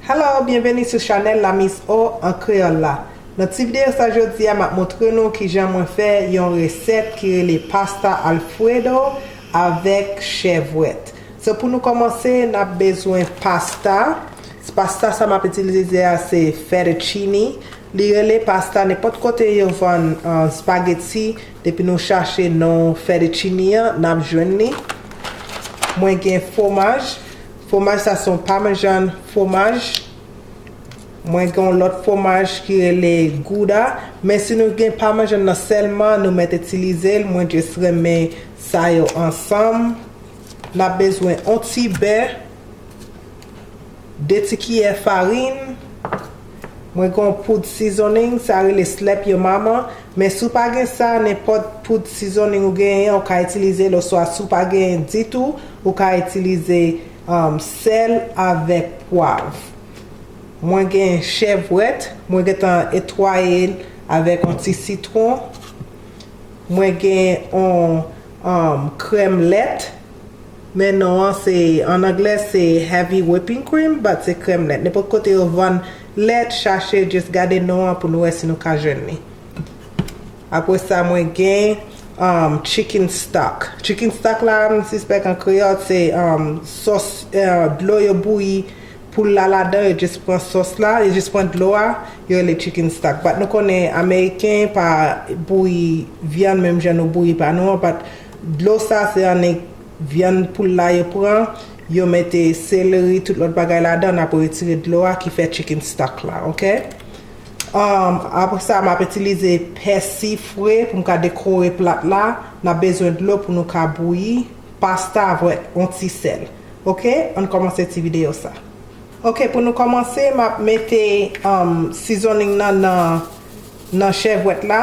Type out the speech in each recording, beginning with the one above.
Hello, byenveni sou chanèl la Miss O an kreyòl la. Nan ti videyo sa jodi a map montre nou kijan mwen fè yon resèt ki rele pasta alfredo avèk chèvwèt. So pou nou kòmanse nap bezwen pasta, pasta sa map itilize a se fettuccine Li rele pasta nenpòt kote yo vann spaghetti depi nou chache non fettuccini an nap jwenn li mwen gen fwomaj fwomaj sa son parmesan fwomaj mwen gen yon lòt fwomaj ki rele gouda men si nou gen parmesan nan sèlman nou mèt itilize l mwen just renmen sa yo ansanm nap bezwen yon ti bè 2 ti kiyè farin. Mwen gen yon poud seasoning sa rele slap yo mama, men si w pa gen sa nenpòt poud seasoning ou genyen an ou ka itilize l oswa si w pa genyen ditou ou ka itilize sèl avèk pwav. Mwen gen chèvrèt, mwen gentan etwaye l avèk yon ti sitwon. Mwen gen yon krèm lèt. Men non an se, an anglè se heavy whipping cream but se krèm lèt. Nenpòt kote yo vann lèt, chache just gade non an pou nou wè si nou ka jwenn li. Apre sa mwen gen um chicken stock. Chicken stock la m sispèk an kreyòl se um sòs uh dlo yo bouyi poul la ladan, yo just pran sòs la, yo just pran dlo a, yo rele chicken stock. But nou konnen ameriken pa bouyi vyann menm jan nou bouyi pa nou an but Dlo sa se annik vyann poul la yo pran, yo mete seleri tout lòt bagay ladan nap retire dlo a ki fè chicken stock la ok. Apresa map itilize pèsi fre poum ka dekore plat la, nap bezwen dlo pou nou ka bouyi pasta avèk on ti sèl ok ann kòmanse ti video sa ok pou nou kòmanse map mete seasoning nan nan chèvwèt la.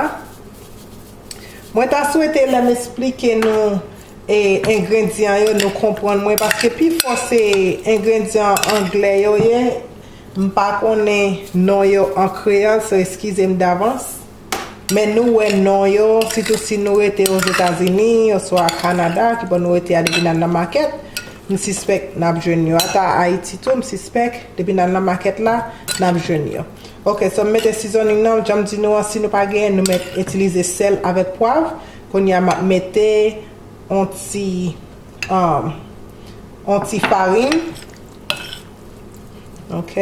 Mwen ta swete lèm esplike nou engrendyan yo nou konprann mwen paske pi fò se engrendyan anglè yo ye m pa konnen non yo an kreyòl so eskize m davans men nou wè non yo sitou si nou rete ozetazini oswa kanada ki bò nou rete a depi n al nan makèt m sispèk n ap jwenn yo ata ayiti tou m sispèk depi n al nan makèt la n ap jwenn yo. Ok so m mete seasoning nan janm di nou an si nou pa genyen nou met itilize sèl avèk pwav kounya map mete on ti on ti farin ok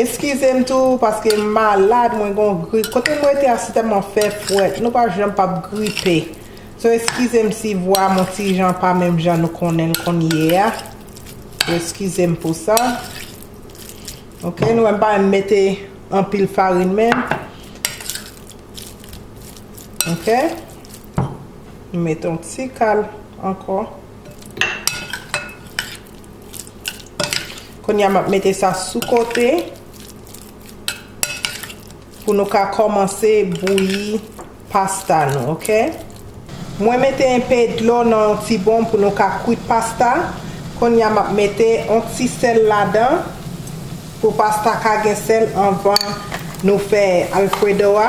eskize m tou paske m malad mwen gon grip kote m rete a se tèlman fè fwèt nou pa janm pap gripe so eskize m si vwa m on ti jan pa menm jan nou konnen l kounyea eskize m pou sa. Ok nou wèm pa renmn mete anpil farin men ok nou mete yon ti kal ankò kounya map mete sa sou kote. Pou nou ka kòmanse bouyi pasta nou ok. Mwen mete enpe dlo nan yon ti bon pou nou ka kwit pasta, konnya map mete yon ti sèl ladan pou pasta ka gen sèl anvan nou fè alfredo a.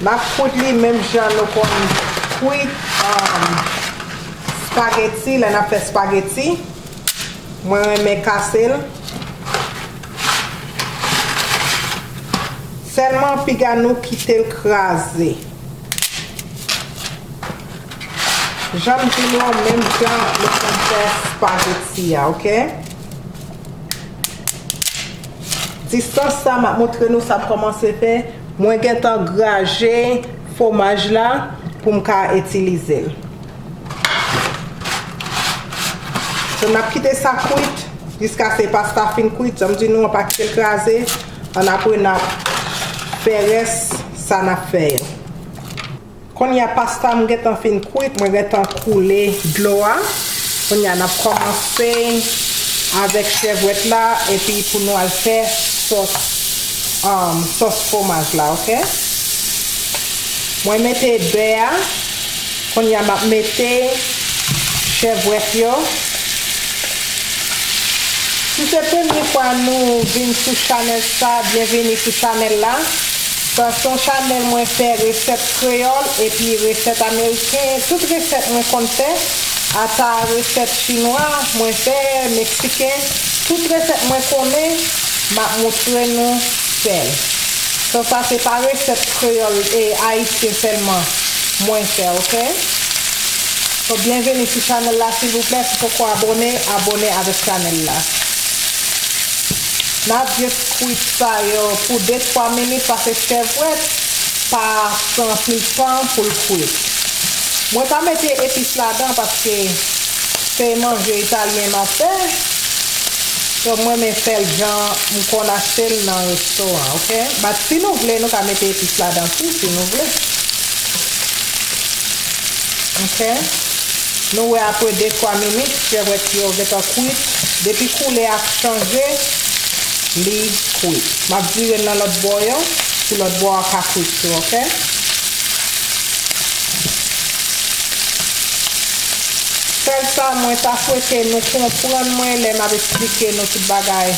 Nap kwit li menm jan nou konn kwit spaghetti lè nap fè spaghetti. Mwen renmen kasel. Selman piga nou kitel kraze. Janm di nou an menm jan nou konn fè spaghetti a ok. Distans sa map montre nou sa komanse fè mwen gentan graje fwomaj la poum ka itilizel. So nap kite sa kwit jiskase pasta fin kwit, janm di nou an pa kitel kraze an apre nap fè rès sa nap fè yo. Konnya pastam gentan fin kwit mwen gentan koule dlo a, konnya nap kòmanse avèk chèvwèt la epi pou nou al fè sòs sòs fwomaj la ok. Mwen mete bè a. Kounye a map mete chèvwèt yo. Si se premye fwa nou vin sou chanèl sa byenveni sou chanèl la. Sa se yon chanèl mwen fè resèt kreyòl epi resèt ameriken tout resèt mwen konn fè ata resèt chinwa mwen fè meksiken tout resèt mwen konnen map moutre nou fèl. Sa sa se pa resèt kreyòl ayisyen sèlman. Mwen fè ok. So byenveni sou chanèl la silvouplè si poko abone abone avèk chanèl la. Nap just kwit sa yo pou de twa minit pase chèvwèt pa pran anpil tan poul kwit. Mwen pa mete epis ladan paske se manje italyen map fè so mrenmen fèl jan mkonn achtel nan resto an ok. Bat si nou vle nou ka mete epis ladan tou si nou vle ok nou wè apre 2 3 minit pyèwèt yo gentan kwit depi koulè a chanje li kwit map virel nan lòt bò yo pou lòt bò a ka kwit tou ok. Sèl sa mwen ta swete nou konprann mwen lè map esplike nou tout bagay.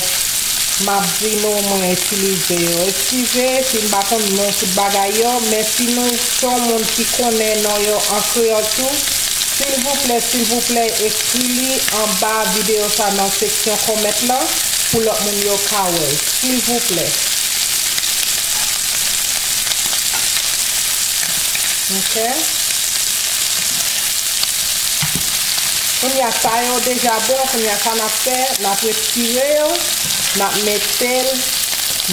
Map di nou mwen itilize yo. Eskize si m pa konn non tout bagay yo, men si nou son moun ki konnen non yo an kreyòl tou, silvouplè silvouplè ekri li anba videyo sa nan seksyon comment lan pou lòt moun yo ka wè l silvouplè ok. Kounya sa yo deja bon kounya sa nap. Fè map retire yo map metel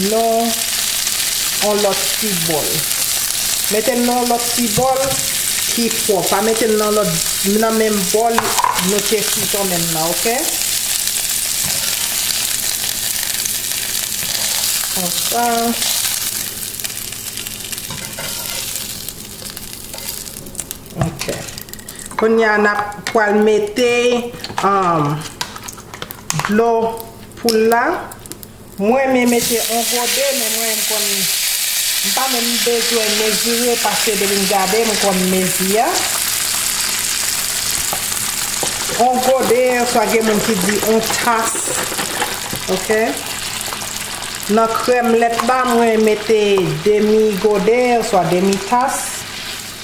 non on lòt ti bòl metel non lòt ti bòl ki pwòp pa metel nan lòt nan menm bòl nou te fritòn menm nan ok konsa. Ok. Kounye a nap pwal mete dlo poul la. Mwen renmen mete on gode men mwen m konn m pa menm bezwen mezire paske depi m gade m konn mezi a. On gode oswa gen moun ki di on tas. Ok. Nan krèm lèt la mwen mete demi gode oswa demi tas.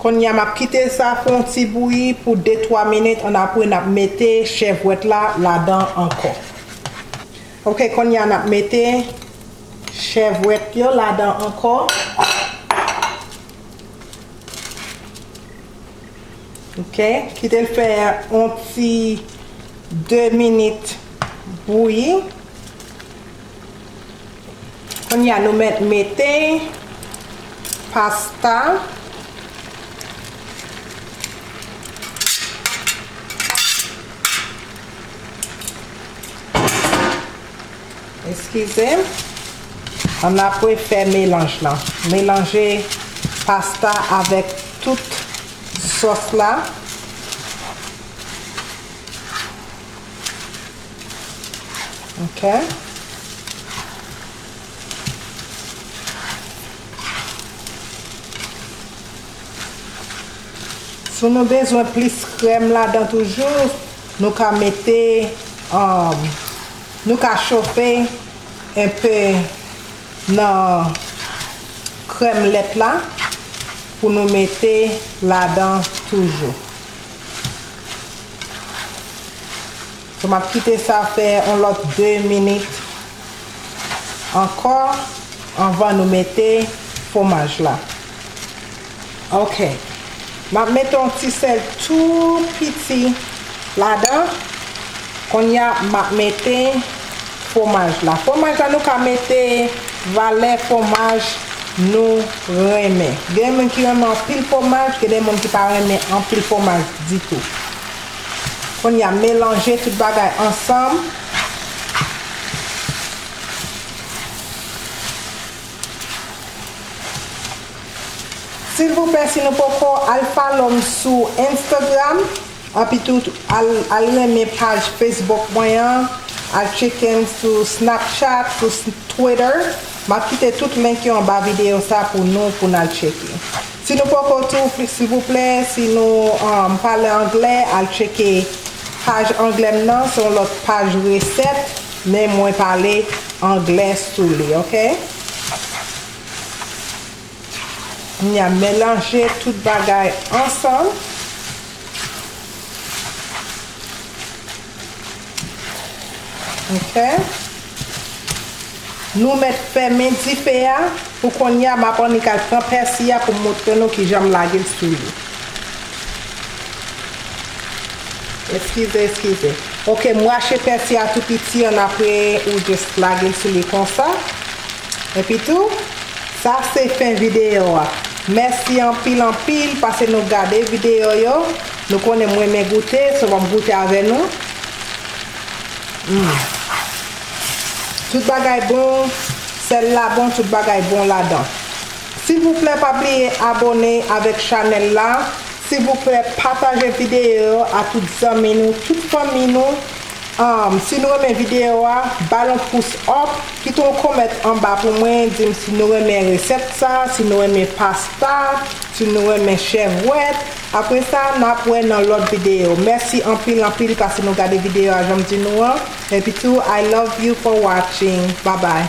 Konnya map kite sa fè yon ti bouyi pou de twa minit an apre nap mete chèvwèt la ladan ankò ok konnya nap mete chèvwèt yo ladan ankò ok kitel fè yon ti de minit bouyi. Kounye a nou mèt mete pasta eskize an apre fè melanj lan melanje pasta avèk tout sòs la. Ok. Si nou bezwen plis krèm la dan toujou, nou ka mete, um, nou ka chofe en pe nan krèm lèt la pou nou mete la dan toujou. So map kite sa fè yon lòt 2 minit ankò anvan nou mete fwomaj la. Ok. Map mete yon ti sèl tou piti ladan. Konnya map mete. Fwomaj la. Fwomaj la nou ka mete valè fwomaj nou renmen. Gen moun ki renmen anpil fwomaj, gen de moun ki pa renmen anpil fwomaj ditou. Kounye a melanje tout bagay ansanm. Silvouplè si nou poko al follow m sou Instagram. Anpi tout al renmen paj Facebook mwen an, al tcheken m sou Snapchat, sou Twitter, m ap kite tout link yo anba videyo sa pou nou pou n al tcheke. Si nou poko tou silvouplè si nou pale anglè al tcheke paj anglè m nan se yon lòt paj resèt men mwen pale anglè sou li ok. Kounye a melanje tout bagay ansanm. Ok. Nou met femen dife a. Pou kounye a map annik al pran pèsi a poum montre nou kijan m lage l sou li. Eskize eskize. Ok m rache pèsi a tou piti annapre ou just lage l sou li konsa. Epitou Sa se fen video a. Mèsi anpil anpil pase nou gade video yo. Nou konnen m renmen goute so m ap goute avè nou. Humm. Tout bagay bon, sèl la bon tout bagay bon ladan. Silvouplè pa bliye abone avèk chanèl la, silvouplè pataje video yo a tout zanmi nou, tout fanmi nou. Humm si nou renmen video a bal yon pous up kite yon comment anba pou mwen dim si nou renmen resèt sa si nou renmen pasta si nou renmen chèvwèt apre sa nap wè nan lòt video mèsi anpil anpil pase nou gade video a janm di nou an epi tou I love you for watching babay.